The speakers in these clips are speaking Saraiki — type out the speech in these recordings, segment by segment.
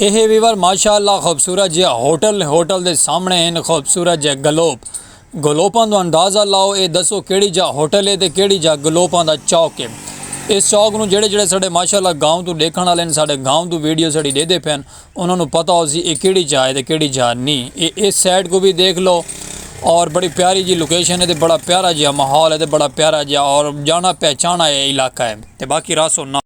ایہے ویور ماشاء اللہ خوبصورت جیہا ہوٹل ہے ہوٹل دے سامنے ہن خوبصورت جے گلوپ گلوپاں دا اندازہ لاؤ اے دسو کیڑی جاہ ہوٹل ہے تے کیڑی جاہ گلوپاں دا چوک ہے اس چوک نوں جیڑھے جیڑھے ساڈے ماشاء اللہ گاؤں توں ڈیکھن آلے ہن ساڈے گاؤں توں ویڈیو ساڈی ڈیدھے پئے ہن انہاں نوں پتہ ہوسی اے کیڑی جاہ ہے تے کیڑی جاہ نی اے اس سائیڈ کوں وی دیکھ لو اور بڑی پیاری جی لوکیشن ہے تے بڑا پیارا جیہا ماحول ہے تے بڑا پیارا جیہا اور جانا پہچانا اے علاقہ ہے تے باقی راسو نا۔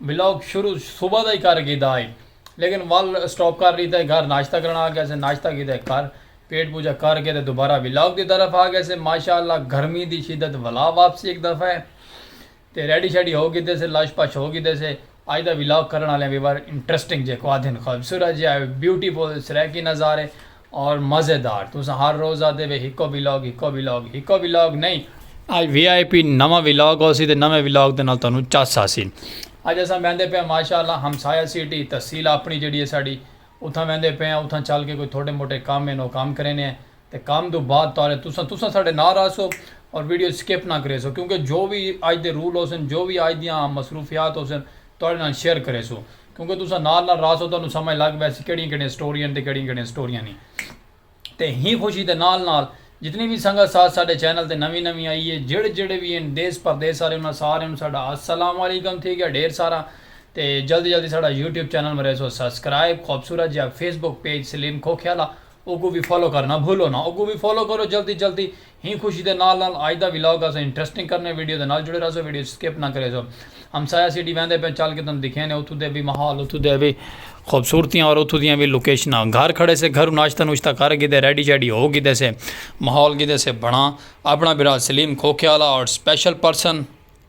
ولاگ شروع صبح دا ہی کر گھیدا ہئی لیکن ول اسٹاپ کر ڈیتا ہئی گھر ناشتہ کرن آ گیا سے ناشتہ کیتا ہئی گھر پیٹ پوجا کر کے تے دوبارہ ولاگ دی طرف آ گئے سے ماشاء اللہ گرمی دی شدت ولا واپسی ہک دفعہ ہے تے ریڈی شیڈی ہو گھیدے سے لش پش ہو گھیدے سے اج دا ولاگ کرن آلیاں ویور انٹرسٹنگ جے کو آدھن خوبصورت جے بیوٹیفل سرائیکی نظارے اور مزیدار تساں ہر روز آدھے وے ہکو ولاگ ہکو ولاگ ہکو ولاگ نہیں اج وی آئی پی نواں ولاگ ہوسی تے نویں ولاگ دے نال تہانوں چس آسی اج اساں ویندے پئے آں ماشاء اللہ ہمسایہ سٹی تحصیل اپنی جیڑھی ہے ساڈی اتھاں ویندے پئے آں اتھاں چل کے کوئی تھوڑے موٹے کم ہن او کم کرینے آں تے کم دو بعد تہاڑے تساں تساں ساڈے نال راہسو اور ویڈیو سکپ نہ کریسو کیونکہ جو وی اج دے رول ہوسن جو وی اج دیاں مصروفیات ہوسن تہاڈے نال شیئر کریسوں کیونکہ تساں نال نال رہسو تہانوں سمجھ لگ ویسی کیڑیاں کیڑیاں سٹوریاں ہن تے کیڑیاں کیڑیاں سٹوریاں نی تے ہیں خوشی دے نال نال جتنی وی سنگت ساتھ ساڈے چینل تے نویں نویں آئی ہے جیڑھے جیڑھے وی ہن دیس پردیس آلے انہاں سارے نوں ساڈا السلام علیکم تھی گیا ڈھیر سارا تے جلدی جلدی ساڈا یوٹیوب چینل مریسو سبسکرائب خوبصورت جیہا Facebook page Saleem Khokhiala اوکوں وی فالو کرنا بھولو نا اوکوں وی فالو کرو جلدی جلدی ہی خوشی دے نال نال آج دا ولاگ اساں انٹرسٹنگ کرنے ویڈیو دے نال جڑے رہسو ویڈیو اچ سکپ نہ کریسو ہمسایہ سیڈی ویندے پئیں چل کے تن دکھینے اتھوں دے وی ماحول اتھوں دے وی خوبصورتیاں اور اتھوں دیاں وی لوکیشناں گھر کھڑے سے گھروں ناشتہ نوشتہ کر گھدے ریڈی شیڈی ہو گھدے سے ماحول گھدے سے بنا اپنا بھرا سلیم کھوکھے آلا اور special person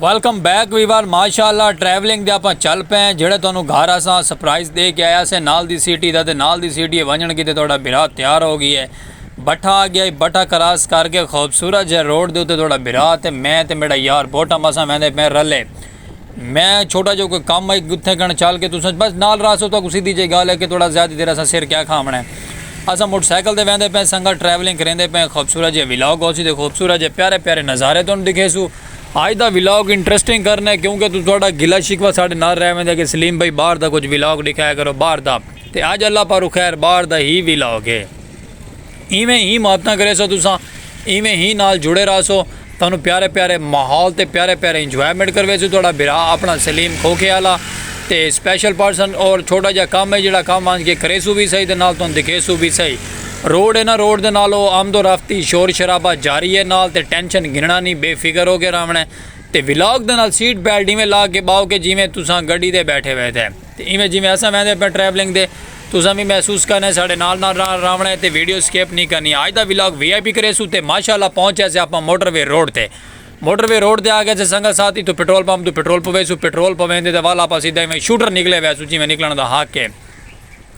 welcome back viewer ماشاءاللہ ٹریولنگ دے اپاں چل پے ہیں جڑے تانوں گھر اساں سرپرائز دے کے آیا سے نال دی سٹی دا تے نال دی سٹی ونجن کیتے تہاڈا بھرا تیار ہو گیا ہے بٹھا آ گیا ہے بٹھا کراس کر کے خوبصورت جے روڈ دے اتے تہاڈا بھرا تے میں تے میڈا یار بوٹا مساں ویندے پے رلے میں چھوٹا جو کوئی کم ہے گتھے گن چل کے تساں بس نال راسو تو سیدھی جے گال ہے کہ تہاڈا زیادہ دیر اساں سر کیا کھاونا ہے اساں موٹر سائیکل تے ویندے پئے سنگت ٹریولنگ کریندے پئے خوبصورت جے ولاگ ہوسی تے خوبصورت جے پیارے پیارے نظارے تانوں دکھیسو آج دا ولاگ انٹرسٹنگ کرنے کیونکہ تو تہاڈا گلا شکوہ ساڈے نال رہ ویندے کہ سلیم بھائی باہر دا کچھ ولاگ دکھایا کرو باہر دا تے اج اللہ پاروں خیر باہر دا ہی ولاگ ہے ایویں ہی محبتاں کریسو تساں ایویں ہی نال جڑے رہسو تہانوں پیارے پیارے ماحول تے پیارے پیارے انجوائمنٹ کرویسوں تہاڈا بھرا اپنا سلیم کھوکھے آلا تے سپیشل پرسن اور چھوٹا جیا کم ہے جیڑا کم آنج کے کریسوں وی سہی تے نال تہانوں دکھیسوں وی سہی روڈ ہے نا روڈ دے نال او آمد و رفت دی شور شرابہ جاری ہے نال تے ٹینشن گھننا نی بے فکر ہو کے راونا ہے تے ولاگ دے نال سیٹ بیلٹ ایویں لا کے باؤ کے جیویں تساں گڈی تے بیٹھے وے تے۔ تے ایویں جیویں اساں ویندے پئے ٹریولنگ دے تساں وی محسوس کرنے ساڈے نال نال راونے تے ویڈیو سکپ نی کرنی اج دا ولاگ وی آئی پی کریسوں تے ماشاءاللہ پہنچ یاسے آپاں موٹر وے روڈ تے موٹر وے روڈ تے آگئے سے سنگت ساتھ اتھوں پٹرول پمپ توں پٹرول پویسوں پٹرول پویندے تے ول آپاں سیدھا ایویں شوٹر نکلے ویسوں جیویں نکلن دا حق اے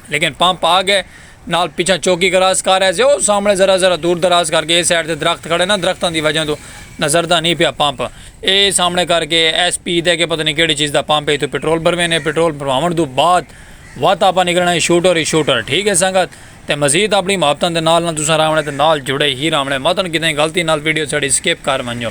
لیکن پمپ آگئے نال پچھاں چوکی کراس کر آئے سے او سامنڑے ذرا ذرا دور دراز کر کے اے سائیڈ تے درخت کھڑے نا درختاں دی وجہ توں نظر دا نی پیا پمپ اے سامنڑے کر کے ایس پی دے کے پتہ نی کیڑی چیز دا پمپ اے اتھوں پٹرول بھروینے پٹرول بھرواونڑ توں بعد وت آپاں نکلنڑاں اے شوٹر ای شوٹر ٹھیک اے سنگت تے مزید اپنڑی محبتاں دے نال نال تساں راونڑے تے نال جڑے ہی راونڑے متنڑ کتھیں غلطی نال ویڈیو ساڈی سکپ کر ونجو۔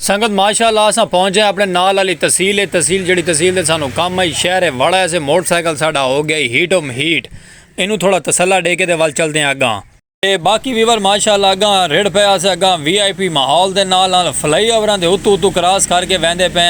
سنگت ماشاء اللہ اساں پہنچ جائے اپنے نال آلی تحصیل ہے تحصیل جڑی تحصیل دے سانو کم آئی شہر ہے وڑا ایسے موٹر سائیکل ساڈا ہو گیا ہی ہیٹ اوم ہیٹ اینو تھوڑا تسلہ ڈے کے دے وال چل دیں اگاں تے باقی ویور ماشاء اللہ اگاں رڑ پے آسے اگاں وی آئی پی ماحول دے نال نال فلائی اوراں دے اتو اتو کراس کر کے ویندے پے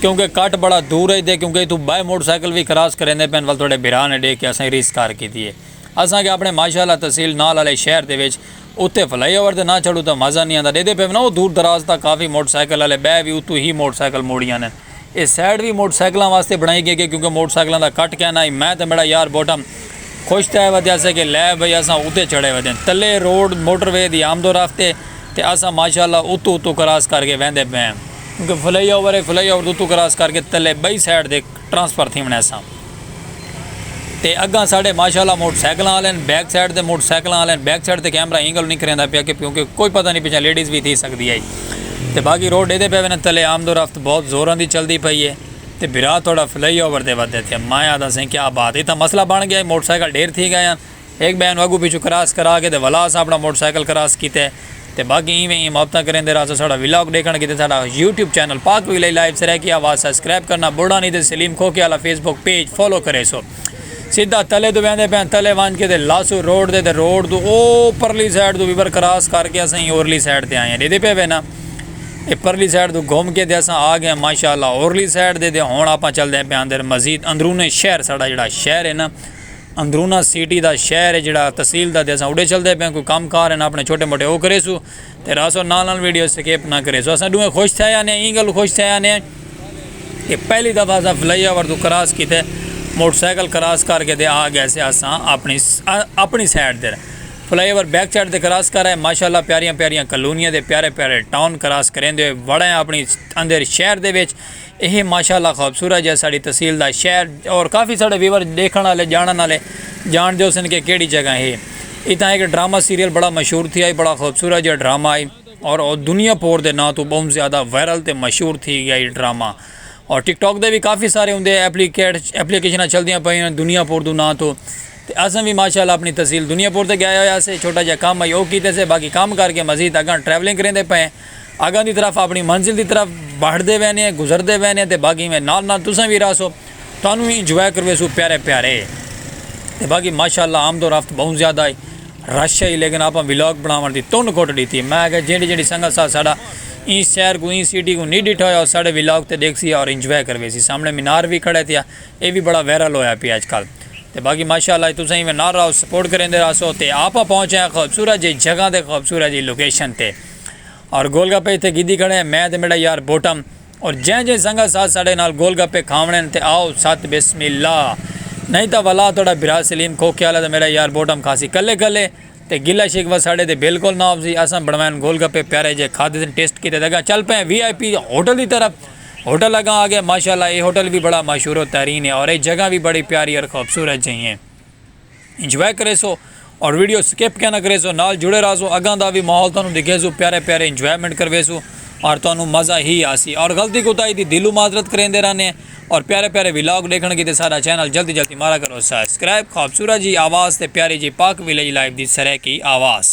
کیونکہ کٹ بڑا دور ہے دے کیونکہ اتو بائے موٹر سائیکل وی کراس کریندے پے وال تھوڑے بھرا نے ڈے کے اساں ریس کر کیتی ہے اساں کے اپنے ماشاء اللہ تحصیل نال آلے شہر دے وچ اتے فلائی اوور تے نہ چڑھوں تاں مزہ نی آندا ڈیدھے پئے ونا او دور دراز تاں کافی موٹر سائیکل آلے بہہ وی اتوں ہی موٹر سائیکل موڑی آندن اے سائیڈ وی موٹر سائیکلاں واسطے بنڑائی گئی گئی کیونکہ موٹر سائیکلاں دا کٹ کیناں ہئی میں تے میڈا یار بوٹم خوش تھئے ودیا سے کہ لے بھئی اساں اتے چڑھے ودین تلے روڈ موٹر وے دی آمد و رفت اے تے اساں ماشاءاللہ اتوں اتوں کراس کر کے ویندے پئے آں کیونکہ فلائی اوور اے فلائی اوور دے اتوں کراس کر کے تلے بئی سائیڈ دے ٹرانسفر تھیونڑ ایساں تے اگاں ساڈے ماشاءاللہ موٹر سائیکلاں آلین بیک سائیڈ تے موٹر سائیکلاں آلین بیک سائیڈ تے کیمرہ ایں گلوں نی کھریندا پیا کہ کیونکہ کوئی پتہ نی پچھاں لیڈیز وی تھی سکدی ہئی تے باقی روڈ ایدے پے ونن تلے آمد و رفت بہت زوراں دی چلدی پئی ہے تے بھرا تھوڑا فلائی اوور دے ودے تے ماں آدھا سئیں کیا بات ہے اتھاں مسئلہ بن گیا ہے موٹر سائیکل ڈھیر تھی گئے ہن ہک ٻئے نوں اڳوں پچھوں کراس کرا کے تے ولا اساں اپݨا موٹر سائیکل کراس کیتے تے باقی ایویں ایاں محبتاں کریندے رہاسوں ساݙا ولاگ ݙیکھݨ کیتے ساݙا یوٹیوب چینل پاک ویلئی لائیو سرائیکی آواز سبسکرائب کرݨا ٻھوڑا نی تے سلیم کھوکھے آلا فیس بک پیج فالو کریسو سدھا تلے توں ویندے پیاں تلے ونج کے تے لاسوں روڈ تے تے روڈ توں او پرلی سائیڈ توں ویور کراس کر کے اساں ایں اورلی سائیڈ تے آئے ہاں ݙیدھے پئے وینا اے پرلی سائیڈ توں گھم کے تے اساں آ گئے ہاں ماشاءاللہ اورلی سائیڈ تے تے ہݨ آپاں چلدے پیاں اندر مزید اندرون شہر ساݙا جیڑھا شہر ہے نا اندرونہ سیٹی دا شہر ہے جیڑھا تحصیل دا تے اساں اوڈے چلدے پئے آں کوئی کم کار ہن اپنے چھوٹے موٹے او کریسو تے رہسو نال نال ویڈیو سکیپ نہ کریسو اساں ڈوہیں خوش تھئے آنے آں ایں گل خوش تھئے آنے آں کہ پہلی دفعہ اساں فلائی اوور توں کراس کیتے موٹر سائیکل کراس کر کے تے آ گئے سے اساں اپنی اپنی سائیڈ تے فلائی اوور بیک سائیڈ تے کراس کر آئے ماشاءاللہ پیاریاں پیاریاں کلونیاں دے پیارے پیارے ٹاؤن کراس کریندے ہوئے وڑے آں اپنی اندر شہر دے وچ اے ہے ماشاءاللہ خوبصورت جے ساڑی تحصیل دا شہر اور کافی ساڑے ویور ڈیکھن آلے جانن آلے جان دے ہوسن کہ کیڑی جگہ ہے۔ اتھاں ہک ڈرامہ سیریل بڑا مشہور تھیا ہئی بڑا خوبصورت جیہا ڈرامہ ہئی اور او دنیا پور دے ناں توں بہوں زیادہ وائرل تے مشہور تھی گیا ہئی ڈرامہ اور ٹک ٹاک دے وی کافی سارے ہوندے ایپلیکیشناں چلدیاں پئیاں دنیا پور دو ناں توں تے اساں وی ماشاءاللہ اپنی تحصیل دنیا پور تے گئے ہوئے آسے چھوٹا جیہا کم ہئی او کیتے سے باقی کم کر کے مزید اگاں ٹریولنگ کریندے پئے ہیں۔ اگاں دی طرف اپنی منزل دی طرف بہڑدے وینے گزردے وینے تے باقی میں نال نال تساں وی رہسو تانوں وی انجوائے کرویسوں پیارے پیارے تے باقی ماشاءاللہ آمد و رفت بہوں زیادہ ہئی رش ہئی لیکن آپاں ولاگ بناون دی تن گھٹ ڈیتی میں آکھیا جیڑی جیڑی سنگت سا ساڈا ایں شہر کوں ایں سٹی کوں نی ڈیٹھا ہویا او ساڈے ولاگ تے ڈیکھسی اور انجوائے کرویسی سامنے مینار وی کھڑا ہے تیا اے وی بڑا وائرل ہویا پیا اج کل تے باقی ماشاءاللہ جی تساں ایویں نال رہو سپورٹ کریندے رہسو تے آپاں پہنچے آں خوبصورت جئی جگہ تے خوبصورت جئی لوکیشن تے۔ اور گول گپے اتھے گھدی کھڑے ہیں میں تے میڈا یار بوٹم اور جیں جیں سنگت ساتھ ساڈے نال گول گپے کھاونے ہیں تے آؤ ست بسم اللہ نہیں تاں ولا تہاڈا بھرا سلیم کھوکھے آلا تے میڈا یار بوٹم کھاسی کلے کلے تے گلہ شکوہ ساڈے تے بالکل نہ ہوسی اساں بنوائن گول گپے پیارے جے کھادے تے ٹیسٹ کیتے تے اگاں چل پئے ہیں وی آئی پی ہوٹل دی طرف ہوٹل اگاں آگئے ماشاءاللہ اے ہوٹل وی بڑا مشہور و ترین ہے اور اے جگہ وی بڑی پیاری اور خوبصورت جہیں۔ انجوائے کریسو اور ویڈیو سکپ کیا نہ کریسو نال جڑے رہسو اگاں دا وی ماحول تانوں دکھیسو پیارے پیارے انجوائمنٹ کرویسو اور تانوں مزہ ہی آسی اور غلطی کوتاہی دی دلو معذرت کریندے رہنے اور پیارے پیارے ولاگ ڈیکھن کیتے ساڈا چینل جلدی جلدی مارا کرو سبسکرائب خوبصورت جی آواز تے پیاری جی پاک ولیج لائیو دی سرائیکی آواز۔